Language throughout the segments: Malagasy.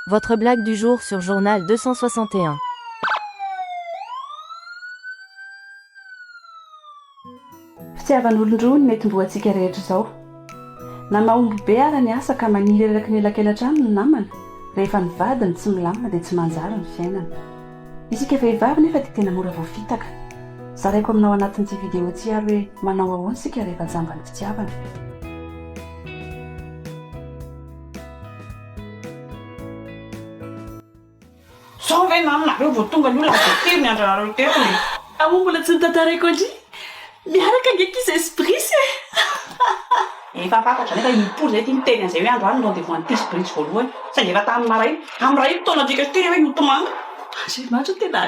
Votre blague du jour sur journal 261. Fitiavan'olon-droa ny mety mbo antsika rehetra izao. Na mahomby be ara ny asa ka maniry eraky ny elakelatra aminy ny namana, rehefa ny vadiny tsy milamina dia tsy manjary ny fiainana. Isika vehivavy nefa dia tena mora voafitaka. Zaraiko aminao anatin'ity video ity ary hoe manao ahoana isika rehefa jamba ny fitiavana. Zao ve nama nareo vao tonga ny olona vao firy ny andronareo teto e. Aho mbola tsy notantaraiko an-dry miaraka ange kizy esprits e. Efa fantatra nefa i Pory zay tia miteny an'izay hoe androany ny rendez-vous an'i Tia sy Bridge voalohany saingy efa tamin'ny maraina. Amin'ny iray taona antsika sy Tia ve hoe notomany. Andriamanitra tena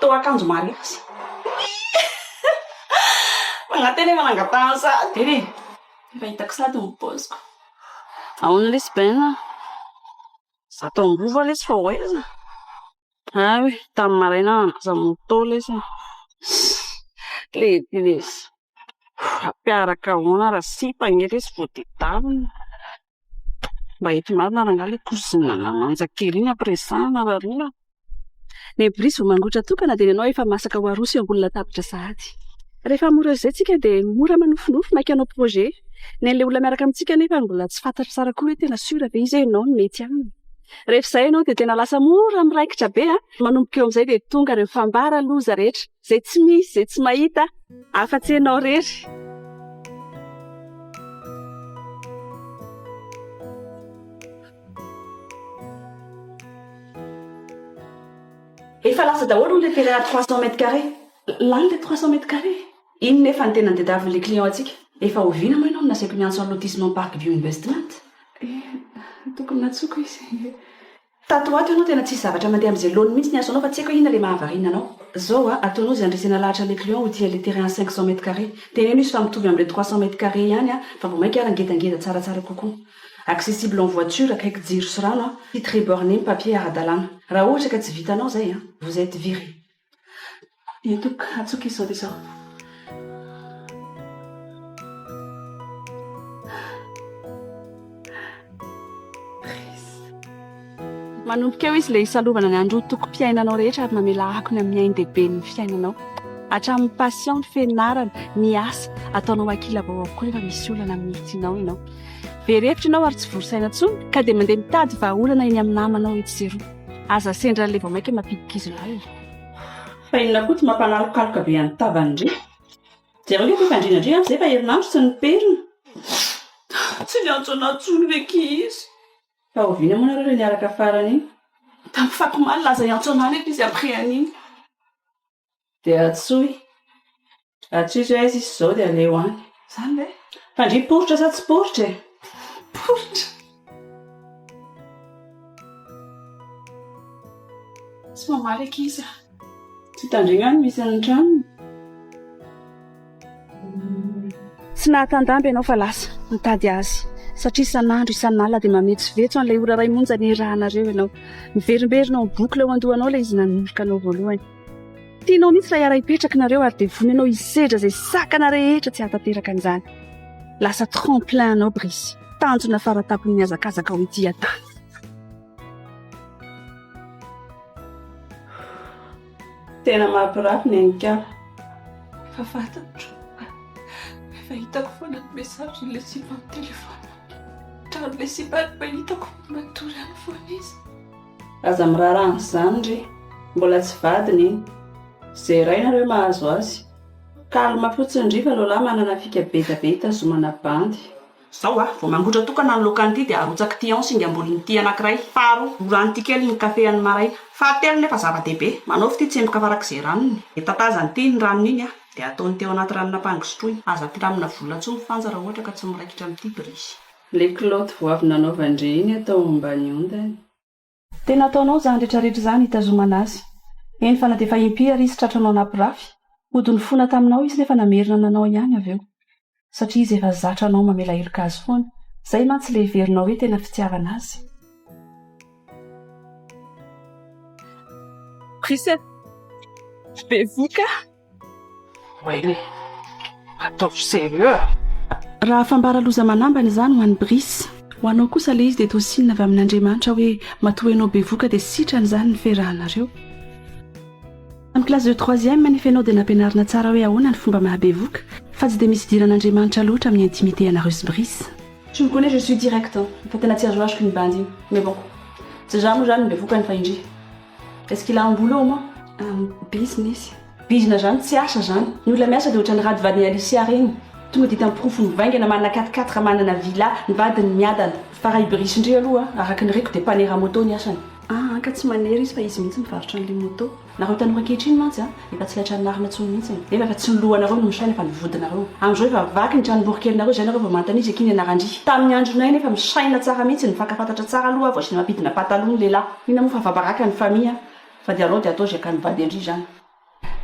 Toa akanjo mariazy. Manantena ianao hangatahana sahady eny e! Efa hitako sahady ny paoziko. Ahoana lesy Ben a? Za tao am-bova lesy fa ho aiza? Ary tamin'ny maraina aza moto lesy e! Lehibe lesy. Hampiaraka ahoana raha sipa anie ilay izy vao tedanina. Mba hety marina angaha ilay cousin'ny mananja kely iny ampiresahana raha rona. Ny boriso vao mangotra tokana dia ny anao efa masaka ho aroso eo ambony latabatra sahady. Rehefa mora izay isika dia mora manofinofy maika hanao projet. Ny an'ilay olona miaraka amintsika anefa mbola tsy fantatro tsara koa hoe tena sûr ve izy hoe ianao no mety aminy. Rehefa izay ianao dia tena lasa mora miraikitra be an! Manomboka eo amin'izay dia tonga ireo fambara loza rehetra. Zay tsy misy zay tsy mahita afa tsy enao rery. Efa lasa daholo hono le terrain à trois cent mètres carrés. Lany le trois cent mètres carrés. Inona efa ny tena nitadiaviny le client antsika? Efa oviana moa ianao no nasaiko niantso an'i lotissement parc bio investment? Eh, tokony natsoko izy. Tato ho ato ianao tena tsisy zavatra mandeha amin'izay laoniny mihitsy ny asanao fa tsy haiko hoe inona ilay mahavariana anao. Zao a, ataonao izay handresena lahatra an'ilay client ho tia ilay terrain à cinq cents mètres carrés. Teneno izy fa mitovy amin'ilay trois cents mètres carrés ihany an, fa vao mainka ary ngedangeda tsaratsara kokoa. Accessible en voiture, akaiky jiro sy rano an, site très borné, papier ara-dalàna. Raha ohatra ka tsy vitanao izay an, vous etes viré. Dia tompoko, atsoiko izao dia izao. Manomboka eo izy ilay hisalovana ny andro tokom-piainanao rehetra ary mamela ako ny amin'ny ain-dehiben'ny fiainanao. Hatramin'ny passion, ny fianarana, ny asa, ataonao ankilabao avokoa rehefa misy olana amin'ny tianao ianao. Very hevitra ianao ary tsy vory saina intsony ka dia mandeha mitady vahaolana eny amin'ny namanao etsy sy eroa. Aza sendra ilay vao maika mampidi-kizo lahy e. Fa inona koa tsy mampanalokaloka be an'i Tava ndry. Jereo ve koa fandriana ndry an, izay fa herinandro tsy niperina. Tsy niantso anah intsony ve ki izy. Fa oviana moa nareo ilay niaraka farany iny. Tamin'ny faty omaly laza hiantso anah nefa izy après an'iny. Dia antsoy. Antsoy izao aiza izy izao dia aleo any. Izany ve? Fa ndry poritra sa tsy poritra e? Poritra! Tsy mamaly ankizy a! Tsy hitandregna ny misy ny tranony. Tsy nahatandamby ianao fa lasa nitady azy, satria isan'andro isan'alina dia mametsovetso an'ilay ora iray monja niarahanareo ianao. Miverimberina ao am-bokona ao an-dohanao ilay izy nanorika anao voalohany. Tianao mihitsy ilay hiara-hipetraka nareo ary dia vonona ianao hisedra izay sakana rehetra tsy hahatanteraka an'izany. Lasa tremplin anao Brice, tanjona fara-tampon'ny hazakazakao ety an-tany. Tena mampirafy ny an'i Kara. Efa fantatro. Efa hitako foana ny message-n'ilay sipa amin'ny téléphone. Hatramin'ilay sipa no mba hitako fa matory ihany foana izy. Aza miraharaha an'izany re. Mbola tsy vadiny iny. Zeraina re mahazo azy. Calme fotsiny ry fa Lola manana fika beta be hitazomana bandy. Zao a, vao mangotra tokana ny loka an'ity dia arotsaka ity an singa ambolin'ny ity anankiray, faharoa, rorano ity kely ny kafe an'ny maraina, fahatelo nefa zava-dehibe, manaovy ity tsemboka farak'izay ranony, dia tatazany ity iny ranony iny a, dia ataony teo anaty ranona apango sotroiny, aza ampiramina vola intsony frantsa raha ohatra ka tsy miraikitra amin'ity brisy. Ilay kilaoty vao avy nanaovany re iny atao ao ambany ondany. Tena ataonao zany retraretra zany hitazomana azy. Eny fa na defa impia ary izy tratranao napirafy, hody nifona taminao izy nefa namerina nanao ihany avy eo. Satria izy efa zatra anao mamela heloka azy foana. Zay mantsy le heverinao hoe tena fitiavana azy. Christian, bevoka. Wayne, ataovy sérieux a! Raha fambara loza manambana izany ho an'i Brice. Ho anao kosa ilay izy dia toa sinina avy amin'Andriamanitra hoe matoa ianao bevoka dia sitrany izany ny firahanareo. Tamin'ny classe de troisième anefa ianao dia nampianarina tsara hoe ahoana ny fomba mahabevoka fa tsy dia misy idiran'Andriamanitra loatra amin'ny intimité anareo sy Brice. Tu me connais je suis direct an! Fa tena tsy azoazoko iny bandy iny. Mais bon. Tsy za moa izany no bevoka any fa indry. Est ce qu'il a un boulot au moins? Un business. Bizina zany tsy asa zany. Ny olona miasa dia ohatran'ny rad vadin'i Alicia reny. Tonga dia hitany porofo mivaingana manana quatre quatre manana villa ny vadiny miadana. Fa raha i Brice-ndry aloha araka ny reko dia mpanera moto ny asany. Aa ka tsy manera izy fa izy mihitsy mivarotra an'le moto. Nareo tanora ankehitriny mantsy a! Efa tsy ilay trano marina intsony mihitsy e! Nefa efa tsy ny lohanareo no misaina fa ny vodinareo. Amin'izao efa vaky ny trano borikelinareo izay nareo vao manontany izy akia ny anaran-dry. Tamin'ny andronay nefa misaina tsara mihitsy, nifankafantatra tsara aloha aho vao asiana mampidina pataloha ny lehilahy. Inona moa fa afa-baraka ny famille an! Fa dia alao dia atao izay akan'ny vady an-dry izany.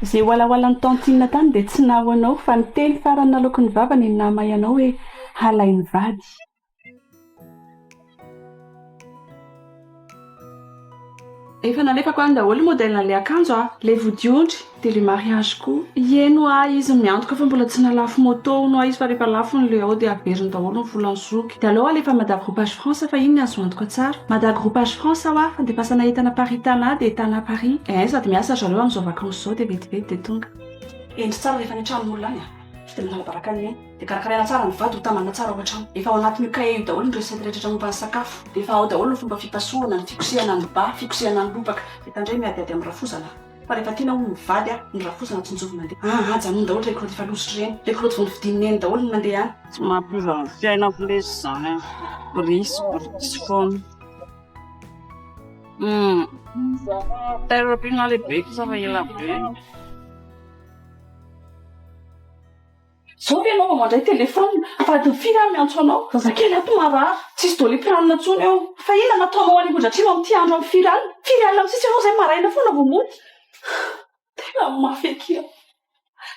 Izay walawalan'i tantine tany dia tsy naho anao fa ny teny farany nalaoky ny vavany no nahamay anao hoe halain'ny vady. Efa nalefako any daholo modèle an'ilay akanjo aho, ilay vodiondry, dia ilay mariage koa. Hieno ahy izy miantoka fa mbola tsy nalafo moto hono aho izy fa rehefa lafo ny le ao dia averiny daholo ny volan'ny zoky. Dia aleo alefa Mada Groupage France fa iny ny azo antoka tsara. Mada Groupage France aho a, fandefasana entana Paris Tana dia Tana Paris. Eeh sady miasa ry zareo amin'izao vacances izao dia vetivety dia tonga. Hendry tsara rehefa any an-tranon'olona any a. Vidin'ny lahabaraka any anie. Dia karakaraina tsara ny vady, hotambana tsara ao an-trano. Efa ao anatin'io kahie io daholo ny recette rehetra momba ny sakafo. Dia efa ao daholo ny fomba fipasohana, ny fikosehana ny ba, fikosehana ny lobaka. Dia tandremo miadihady amin'ny rafozana a! Fa rehefa tiana hono ny vady a, ny rafozana tsinjovy mandeha. An! Ajanony daholo ireny kaoty efa lozitra ireny. Ilay kaoty vao novidian'i Neny daholo no mandeha any. Tsy mampiova ny fiainako lesy izany an! Bry sy brytsy foana. Humm! Tailleur Pinault lehibe kosa fa ela be. Zao ve ianao vao mandray telephone? Vadin'i Firy aho miantso anao. Zazakely ato marary. Tsisy doliprane intsony ao. Fa inona no ataonao any Ambohidratrimo amin'ity andro amin'ny firy alina? Firy alina mitsitsy ianao izay maraina foana vao mody? Tena mafy akia.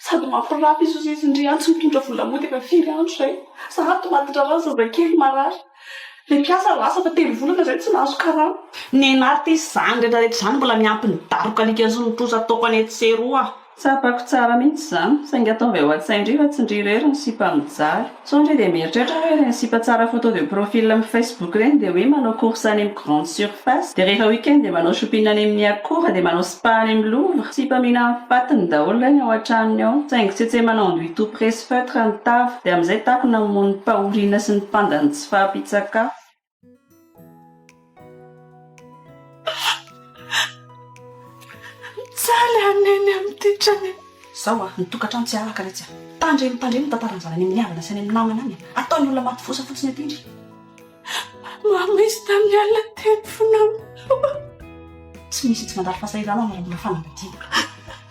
Sady mampirafy izy hozizy ndry any tsy mitondra vola mody efa firy andro izay. Za ato matindrarano zazakely marary. Ilay mpiasa lasa fa telo volana izay tsy nahazo karama. Nenarty izany rehetra rehetra izany mbola miampy ny daroka alika sy ny trosa ataoko any etsy sy eroa. Tsapako tsara mihitsy izany. Saingy ataovy ao an-tsain-dry fa tsy ndry irery no sipa mijaly. Sao ndry dia mieritreritra hoe ireny sipa tsara photo de profil amin'ny facebook ireny dia hoe manao course any amin'ny grande surface, dia rehefa week-end dia manao shopping any amin'ny accora, dia manao. Fa any am lova, sipa mihina am patiny daholo reny ao atranony ao, saingy tsy etse manao anduit tout presse feutre ny tavy, dia amizay takona hamono ny pahoriana sy ny panda ny tsy fahampitsakafo. Mijaly aho neny amity trano. Zao a, ny tokatrano tsy araka retsy a! Tandremo tandremo ny tantaran'ny zanany amin'ny havana sy any amin'ny namana any a! Ataon'ny olona maty vosa fotsiny aty ndry! Mamo izy tamin'ny alina teo ny fo namoha. Tsy misy tsy mandalo fahasahiranana raha mbola fanambadiana.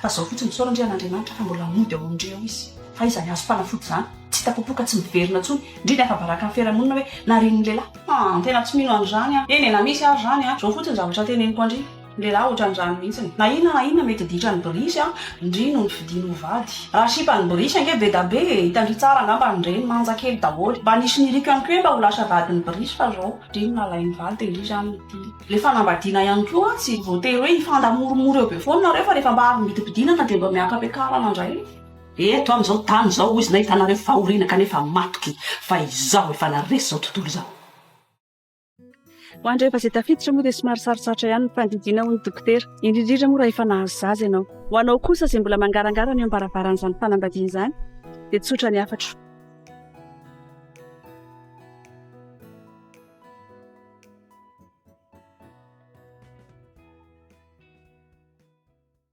Fa izao fotsiny, misaora ndry an'Andriamanitra fa mbola mody ao amindry ao izy. Fa iza ny azo fanafody izany? Tsy hita popoka tsy miverina intsony, indrindra ny afa-baraka ny fiarahamonina hoe narian'ny lehilahy. An, tena tsy mino an'izany aho. Eny e, na misy ary izany an, izao fotsiny ny zavatra teneniko andry. Lehilahy ohatran'ny rano mihitsiny. Na inona na inona mety ditran'ny brisy an, ndry no nifidiany ho vady. Raha sipan'ny brisy ange bedabe e, hitandry tsara angamba ny reny, manja kely daholo. Mba nisy niriko ihany koa hoe mba ho lasa vadin'ny brisy fa zao. Ndry no nalainy vady dia ndry izany no tiany. Le fanambadiana ihany koa an, tsy voatery hoe hifandamoromoro eo be foana nareo fa rehefa mba avy midimpidinana dia mba miaka-piakarana ndray. Eto am zao tany zao hoy izy nahitanareo fahoriana kanefa matoky fa izao efa naresy zao tontolo izao. Ho an'ireo efa izay tafiditra moa dia somary sarotsarotra ihany ny fandidiana hoy ny dokotera, indrindra indrindra moa raha efa nahazo zaza ianao. Ho anao kosa izay mbola mangarangara ny eo am-baravaran'izany fanambadiana izany dia tsotra ny hafatro.